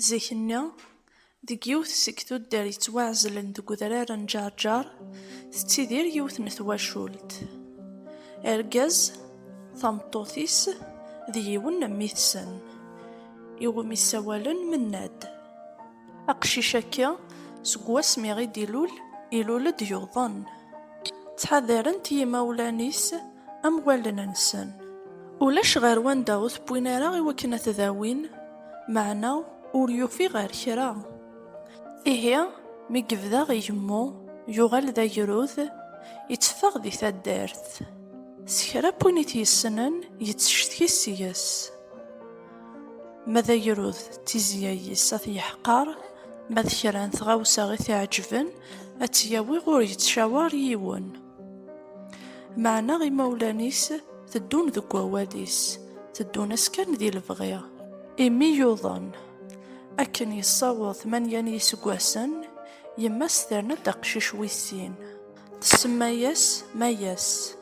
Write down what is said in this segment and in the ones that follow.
Zik-nni, deg yiwet seg tuddar yettwaɛezlen deg udrar n Ǧerǧer, tettidir yiwet n twacult. Argaz, tameṭṭut-is d yiwen n mmi-tsen, iwumi ssawalen Mennad. Aqcic-agi, seg wasmi i d-ilul, ilul-d yuḍen. Ttḥadaren-t yimawlan-is am wallen-nsen. Ulac ɣer wanda ur t-wwin ara i wakken ad t-dawin. Meɛna ur yufi ɣer kra. Ihi, mi yebda igemmu, yuɣal d agrud, itteffeɣ di taddart. S kra n win i t-yessnen, yettcetki seg-s. Ma d agrud, d tizya-is ad t-yeḥqer, ma d kra n tɣawsa i t-iɛeǧben, ad tt-yawi ur yettcawar yiwen. Meɛna imawlan-is teddun deg wawal-is, teddun-as kan di lebɣi. Imi yuḍen. Akken yessaweḍ tmanya n yiseggasen, yemma-s terna-d aqcic wis sin. Tsemma-yas Mayas.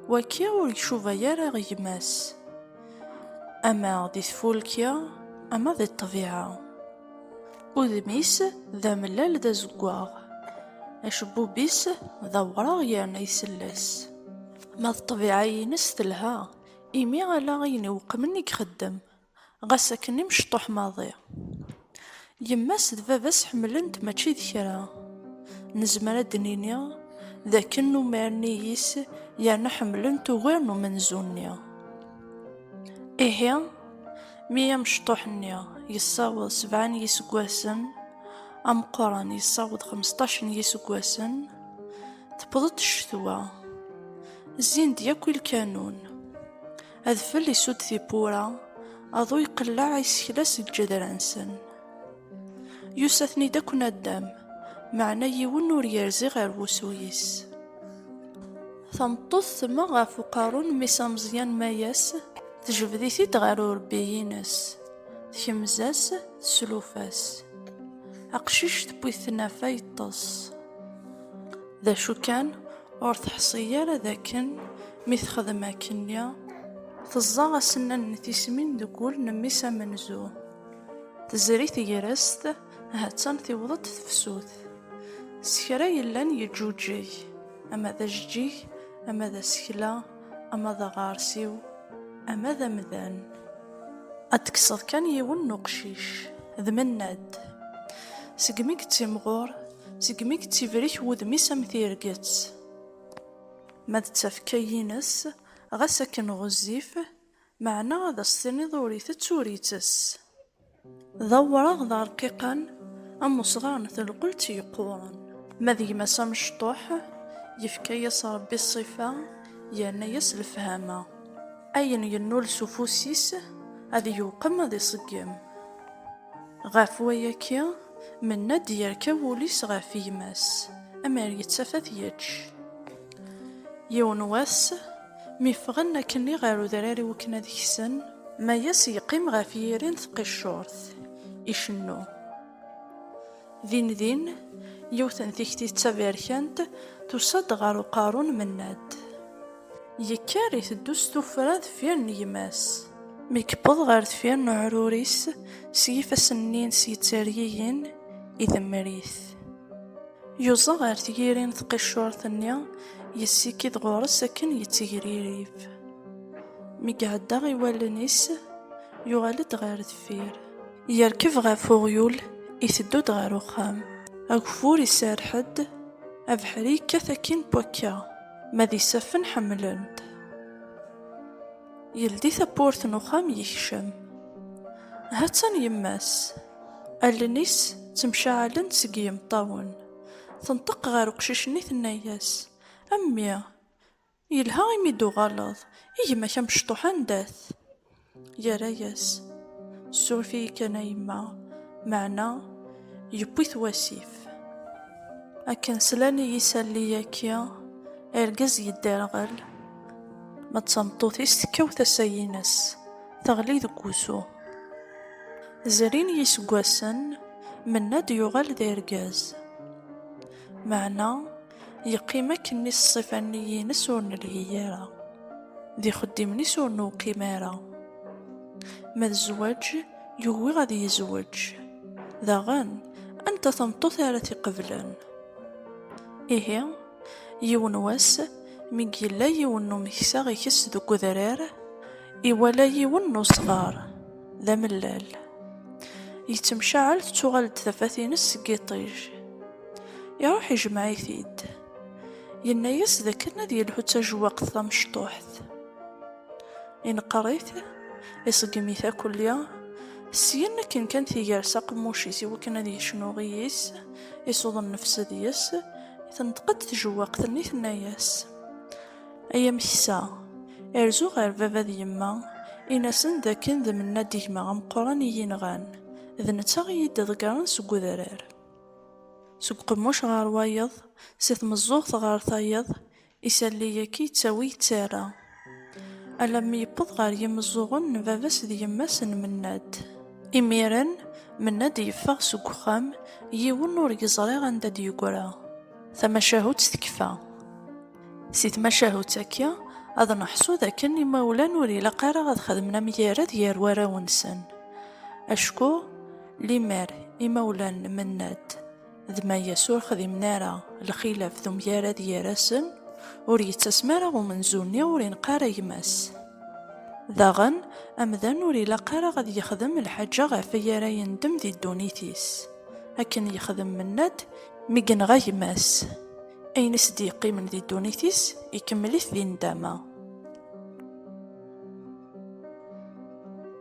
Wagi ur icuba ara i gma-s, ama di tfulki, ama di ṭṭbiɛa. Udem-is d amellal d azeggaɣ, acebbub-is d awraɣ yerna isell-as. Ma d ṭṭbiɛa-ines telha, imi ala ayen iweqmen i ixeddem, ɣas akken imecṭuḥ maḍi. Yemma-s d baba-s ḥemmlen-t mačči d kra. Nezmer ad d-nini d akken numaren iyi-s yerna ḥemmlen-t ugar n umenzu-nni. Ihi. Mi amecṭuḥ-nni yessaweḍ sebɛa n yiseggasen, ameqqran yessaweḍ xmesṭac n yiseggasen, tewweḍ-d ccetwa. Zzin-d yakk i lkanun. Adfel isudd tiwwura, aḍu iqelleɛ isekla seg lǧedra-nsen. Yusa-ten-id akk naddam, meɛna yiwen ur yerzi ɣer wusu-is. Tameṭṭut temmeɣ ɣef uqerru n mmi-s ameẓyan Mayas, tejbed-it-id ɣer urebbi-ines. Tkemz-as, teslufa-s. Aqcic tewwi-t tnafa yeṭṭes. D acu kan, ur teḥṣi ara d akken mi texdem akkenni, teẓẓa asennan n tismin deg wul n mmi-s amenzu. Tezri tegrest, ha-tt-an tiweḍ-d tefsut. S kra yellan yeǧǧuǧeg, ama d ajeǧǧig, ama d asekla, ama d aɣersiw, ama d amdan. Ad d-kkseḍ kan yiwen n uqcic, d Mennad. Segmi yettimɣur, segmi yettibrik wudem-is am tirget. Ma d tafekka-ines, ɣas akken ɣezzif, Meɛna ad as-tiniḍ ur itett ur ittess. D awraɣ d arqiqan am usɣar n telqelt yeqquren. Ma d gma-s amecṭuḥ, yefka-yas Rebbi ṣṣifa, yerna-yas lefhama. Ayen yennul s ufus-is, ad yewqem ad iṣeggem. Ɣef wayaki, Mennad yerka wul-is ɣef gma-s, amer yettaf ad t-yečč. Yiwen wass, Mi ffɣen akkenni ɣer udrar iwakken ad ksen, Mayas yeqqim ɣef yiri n tqiccurt, icennu. Dindin, yiwet n tikti d taberkant tusa-d ɣer uqerru n Mennad. Yekker iteddu s tuffra deffir n gma-s. Mi yewweḍ ɣer deffir n uɛrur-is, s yifassen-nni-ines yettergigin, idemmer-it. Yuẓa ɣer tgiri n tqiccurt-nni, yessikid ɣur-s akken yettegririf. Mi iɛedda i wallen-is, yuɣal-d ɣer deffir. Yerkeb ɣef uɣyul, iteddu-d ɣer uxxam. Ageffur iserreḥ-d, abeḥri yekkat akkin n wakka, ma d isaffen ḥemmlen-t. Yeldi tawwurt n uxxam, yekcem. Ha-tt-an yemma-s. Allen-is ttemcaɛalent seg yimeṭṭawen. Tenṭeq ɣer uqcic-nni tenna-yas, A mmi, yelha imi i d-tuɣaleḍ, i gma-k amecṭuḥ anda-t? Yerra-yas, Ssuref-iyi kan a yemma, meɛna yewwi-t wasif. Akken slan i yisalli-yaki, argaz yedderɣel, ma d tameṭṭut-is tekkaw tasa-ines. teɣli deg wusu. Zrin yiseggasen, Mennad yuɣal d argaz. Meɛna yeqqim akkenni s ṣṣifa-nni-ines ur nelhi ara, d ixeddimen-is ur newqim ara. Ma d zzwaǧ, yugi ad yezweǧ. Daɣen, anta tameṭṭut ara t-iqeblen? Ihi. Yiwen wass, mi yella yiwen n umeksa ikess deg udrar, iwala yiwen n usɣar d amellal yettemcaɛal, tettuɣal-d tafat-ines seg yiṭij. Iruḥ ijemmeɛ-it-id, yenna-as d akken ad yelhu d tajewwaqt tamecṭuḥt. Ineqqer-it, iṣeggem-it akk lli, syen akken kan tigers aqemmuc-is iwakken ad yecnu i yis, isuḍ nnefs deg-s, Tenṭeq-d tjewwaqt-nni tenna-yas, Ay ameksa, rzu ɣer baba d yemma, in-asen d akken d Mennad gma ameqqran i yi-nɣan, d netta i yi-d-iḍeggren seg udrar. Seg uqemmuc ɣer wayeḍ, si tmeẓẓuɣt ɣer tayeḍ, Isalli-agi yettawi yettara. Alammi yewweḍ ɣer yimeẓẓuɣen n baba-s d yemma-s n Mennad. Imiren, Mennad yeffeɣ seg uxxam, yiwen ur yeẓri anda d-yegra. Tamacahut tekfa. Si tmacahut-agi, ad neḥṣu d akken imawlan ur ilaq ara ad xedmen amgired gar warraw-nsen. Acku, limmer imawlan n Mennad. d ma yes ur xdimen ara lxilaf d umgarad gar-asen, ur yettasem ara umenzu-nni ur ineqq ara gma-s. Daɣen, amdan ur ilaq ara ad yexdem lḥaǧa ɣef ay ara yendem di ddunit-is, akken yexdem menna-d mi yenɣa gma-s, ayen i s-d-yeqqimen di ddunit-is ikemmel-it di nndama.